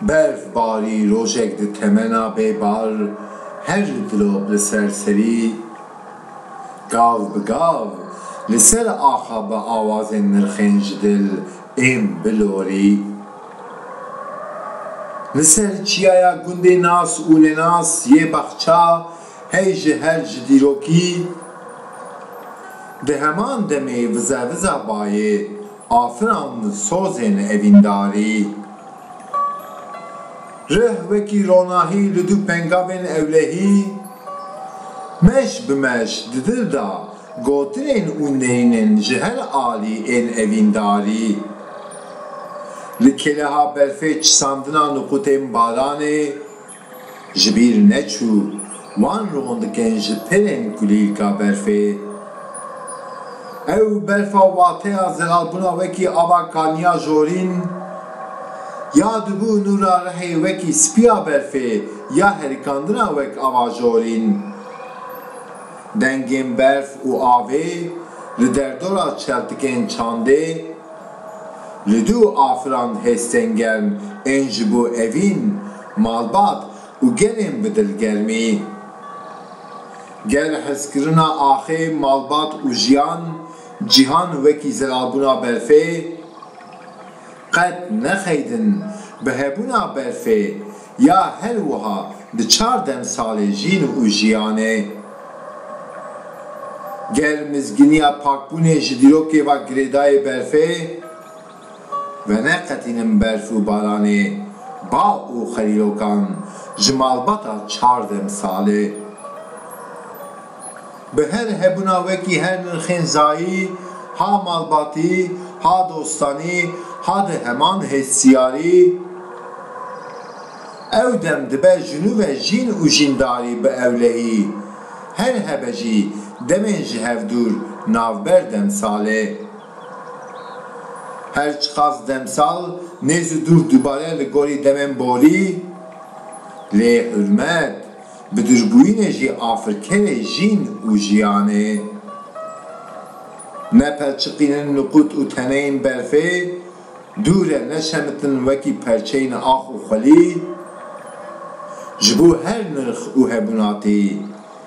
Berfbarî rojek di temena bê bar her dilop li ser serî gav bi gav li ser axa bi awazên nirxên ji dil ên bilorî. Li ser çiyaya gundê nas û nenas yê Baxça, Hey ji hev ji dîrokî di heman demê vize viza bayê afiran sozên evîndarî. Rih wekî ronahî li du pengavên ewlehî, meş bi meş di dil de gotinên û neyînên ji her alî ên evîndarî. Li kêleha berfê çisandina nuqutên baranê. Ji bîr neçû wan rondikên ji pirên kulîlka berfê. Ew berfa wateya zeralbûna wekî ava kaniya jorîn ya dibû nûra rihê wekî spiya berfê ya herikandina wek ava jorîn. Dengên berf û avê li derdora çeltikên çandê li dû afiran hêstengern ên ji bo evîn Malbat û gelên bi dilgermî. Gel hezkirina axê, malbat û jiyan, cîhan wekî zirabûna berfê, qet nexeydin bi hebûna berfê ya her wiha di çar demsalê jîn û jiyanê. Gel mizgîniya pakbûnê ji dîrokê ve girêdayê berfê. Veneqetînin berf û baranê, ba û xerîrokan ji malbata çar demsalê. Bi her hebûna wekî her nirxên zayî, ha malbatî, ha dostanî, ha di heman hestiyarî, ew dem dibe jinûve jîn û jîndarî bi ewlehî, her hebe jî demên ji hev dûr navber demsalê. Her çiqas demsal nêz û dûr dubare li gorî demên borî, lê hurmet, bidirgûyînê jî afirkerê jîn û jiyanê. Ne pelçiqînin nuqut û teneyên berfê, dûr e ne şemitin wekî perçeyên ax û xwelî, ji bo her nirx û hebûnatî.